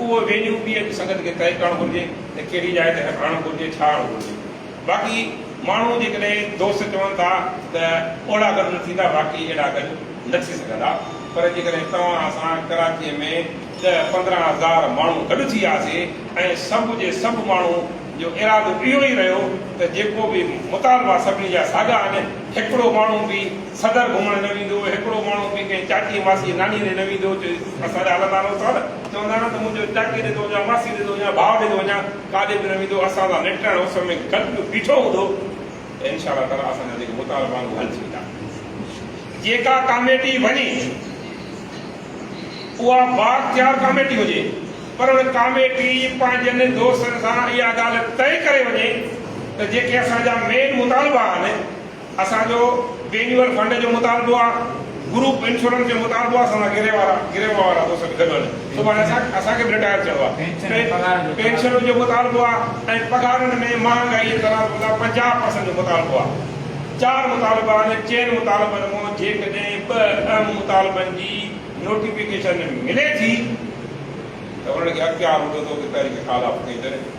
اهو venue P A جي سنگت کي طئي ڪرڻ گهرجي ته ڪهڙي جاء تي رکرائڻو گهرجي، ڇا هئڻو گهرجي. باقي ماڻهو جيڪڏهن دوست چون ٿا ته اوڙا گڏ نه ٿيندا باقي اهڙا گڏ نه ٿي سگهندا پر جيڪڏهن توهان اسان ڪراچيء ۾ ڏهه پندرهن هزار ماڻهو گڏ ٿي آسي ۽ سڀ جي سڀ ماڻهو جو ارادو اهو ئي رهيو ته جيڪو به مطالبا سڀني جا ساڳا آهن هڪڙو ماڻهو به صدر گهمڻ نه ويندو هڪڙو ماڻهو به ڪنهن چاچي ماسي ناني ڏي نه ويندو چي اسان جا هلندا نه اٿا نه چوندا آهن ته منهنجو چاچي ڏي ٿو وڃان، ماسي ڏي ٿو وڃان، ڀاء ڏي ٿو وڃان، ڪاڏي به نه ويندو، اسان سان نٽرائڻ اس ۾ گڏ به بيٺو هوندو ته انشاء الله تعاليٰ اسان جا جيڪي مطالبا آهن اهي حل ٿي ويندا. جيڪا ڪاميٽي وڃي اها بااختيار ڪاميٽي هجي پر ان ڪاميٽي پنهنجن دوستن سان اها ڳالهه طئي ڪري وڃي ته جيڪي اسان جا مين مطالبا آهن، اسان جو وينيور فنڊ جو مطالبو آ گروپ انشورنس جو مطالبو آ سندن گري وارا گري وارا دوست به گڏ هلن سڀاڻي اسان اسان کي به رٽائر ٿيڻو آ پينشن جو مطالبو آ ۽ پگهارن ۾ مهانگائي جي تناسب سان پنجاهه پرسنٽ جو مطالبو آ چار مطالبا آهن چئن مطالبن مون جيڪڏهن ٻه اهم مطالبن جي نوٽيفڪيشن ملي ٿي ته انهن کي اختيار هوندو ته اهي تحريڪ خالاب ڪئي ته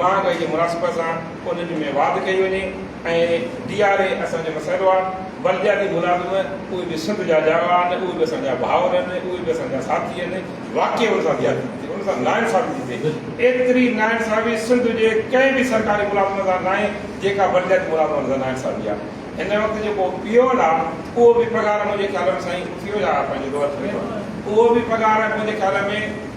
مهانگائي جي مناسبت سان انهن ۾ واڌ ڪئي وڃي ۽ ڊي آر اي اسان جو مسئلو آهي، بلدياتي ملازم اهي به سنڌ جا ڄاوا آهن، اهي به اسان جا ڀائر آهن، اهي به اسان جا ساٿي آهن، واقعي ان سان زيادتي ٿي ٿئي، ان سان ناانصافي ٿي ٿئي، ايتري ناانصافي سنڌ جي ڪنهن به سرڪاري ملازم سان ناهي جيڪا بلدياتي ملازمن سان ناانصافي آهي، هن وقت جيڪو پيئون آهي اهو به پگهار منهنجي خيال ۾ سائين اٿيو يا پنهنجي دور ڇڏيو اهو به پگهار منهنجي خيال ۾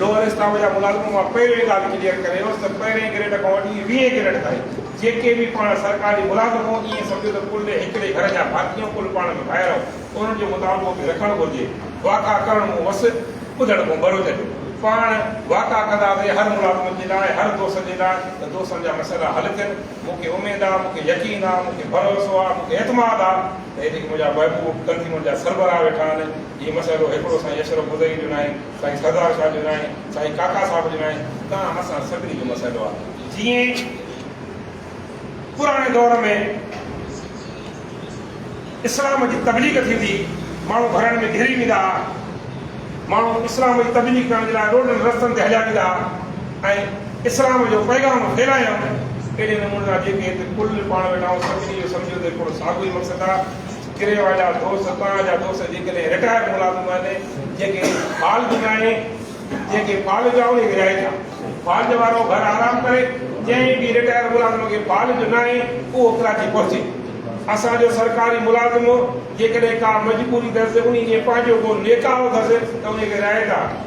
لوهر اسلام جا ملازم مان پهرين ڳالهه ڪليئر ڪري ويس ته پهرين گريڊ کان وٺي ويهين گريڊ تائين جيڪي به پاڻ سرڪاري ملازم هو ائين سمجهو ته ڪل هڪڙي گهر جا ڀاتي ۽ ڪل پاڻ ۾ ڀائر هو انهن جو مطالبو به رکڻ گهرجي واڪا ڪرڻ مون وس ٻڌڻ ڪون ڀروچ جو پاڻ واڪا ڪنداسين هر ملازم جي لاء هر دوست جي لاء ته دوستن جا مسئلا حل ٿين مون کي اميد آ مون کي يقين آ مون کي ڀروسو آ مون کي اعتماد آ ته هي جيڪي منهنجا محبوب تنظيمن جا سربراهه ويٺا آهن هي مسئلو هڪڙو سائين اشرف بدوي جو ناهي سائين سردار شاھ ڏنائين سائين ڪاڪا صاحب ڏنائين تان اسان سڀني جو مسئلو آ جيئن پراڻي دور ۾ اسلام جي تبليغ ٿيندي ماڻهو گهرن ۾ گهري ويندا ها ماڻهو اسلام جي تبليغ ڪرڻ جي لاء روڊن رستن تي هليا ويندا ها ۽ اسلام جو پيغام ڦهلايائون اهڙي نموني سان جيڪي هتي ڪل پاڻ ويٺا آهون سڀني جو سمجهيو ته هڪڙو ساڳيو ئي مقصد آ ڪريوا جا دوست، توهان جا دوست جيڪڏهن رٽائر ملازم آهن، جيڪي فالج ناهي، جيڪي فالج آهي انهي کي رهائي ڏيان. فالج وارو گهر آرام ڪري، جنهن به رٽائر ملازم کي فالج ناهي اهو ڪراچي پهچي. اسان جو سرڪاري ملازم جيڪڏهن ڪا مجبوري اٿس، انهي ڏينهن پنهنجو ڪو نيڪاهه اٿس ته انهي کي رهائي ڏيان.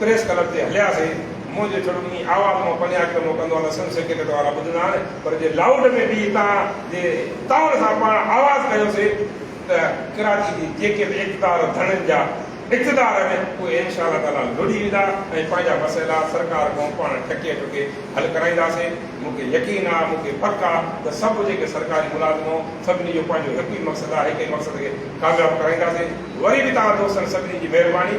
پريس ڪلب تي هلياسين. مون جي ڇڙو ڏني آواز مان پنجاهه ڪلو مون ڪندو آهيان ته سنڌ سيڪريٽ وارا ٻڌندا آهن پر جي لائوڊ ۾ بيهي تان جي تائن سان پاڻ آواز ڪيوسين ته ڪراچي جي جيڪي به اقتدار ڌڻين جا اقتدار آهن اهي انشاء الله تعاليٰ لڙهي ويندا ۽ پنهنجا مسئلا سرڪار کان پاڻ ٺڪي ٺڪي حل ڪرائينداسين. مون کي يقين آهي مون کي پڪ آهي ته سڀ جيڪي سرڪاري ملازم آهيون سڀني جو پنهنجو هڪ ئي مقصد آهي هڪ ئي مقصد کي ڪامياب ڪرائينداسين. وري به توهان دوستن سڀني جي مهرباني.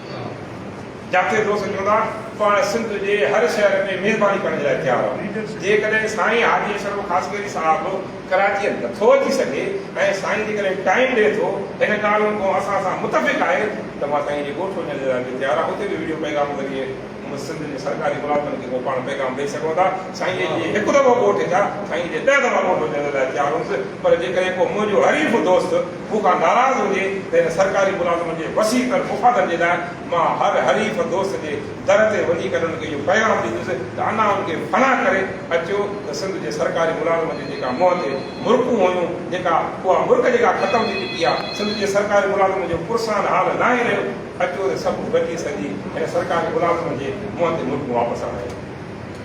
جاکي دوست چوندا پاڻ سنڌ جي هر شهر ۾ مهرباني ڪرڻ جي لاء تيار آهيون. جيڪڏهن سائين حاجي اشرف خاصخيلي صاحب ڪراچيء نٿو اچي سگهي ۽ سائين جيڪڏهن ٽائيم ڏئي ٿو هن ڳالهه ڪو اسان سان متفق آهي ته مان سائين جي ڳوٺ وڃڻ جي لاء به تيار آهيان اتي به وڊيو پيغام ذريعي هن سنڌ جي سرڪاري ملازمن کي ڪو پاڻ پيغام ڏئي سگهو ٿا؟ سائين جي جي هڪ دفعو ووٽ ٿيا، سائين جي ڏهه دفعا ووٽ وجهڻ جي لاء تيار هئس، پر جيڪڏهن ڪو منهنجو حريف دوست مون کان ناراض هجي ته هن سرڪاري ملازمن جي وسيع تر مفادن جي لاء مان هر حريف دوست جي در تي وڃي ڪري ان کي اهو پيغام ڏيندس ته انا ان کي فنا ڪري اچو ته سنڌ جي سرڪاري ملازمن جي جيڪا منهن تي مرڪون هيون جيڪا اها مرڪ جيڪا ختم ٿي چڪي آهي، سنڌ جي سرڪاري ملازمن جو پرسان حال ناهي رهيو. اچو ته سڀ گڏجي سڄي هن سرڪاري ملازم جي منهن تي ملڪ واپس آڻايون.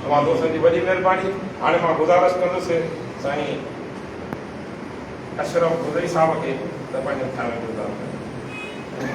اوهان دوستن جي وڏي مهرباني. هاڻي مان گذارش ڪندس سائين اشرف مدعي صاحب کي ته پنهنجن خيالن جو اظهار ڪن.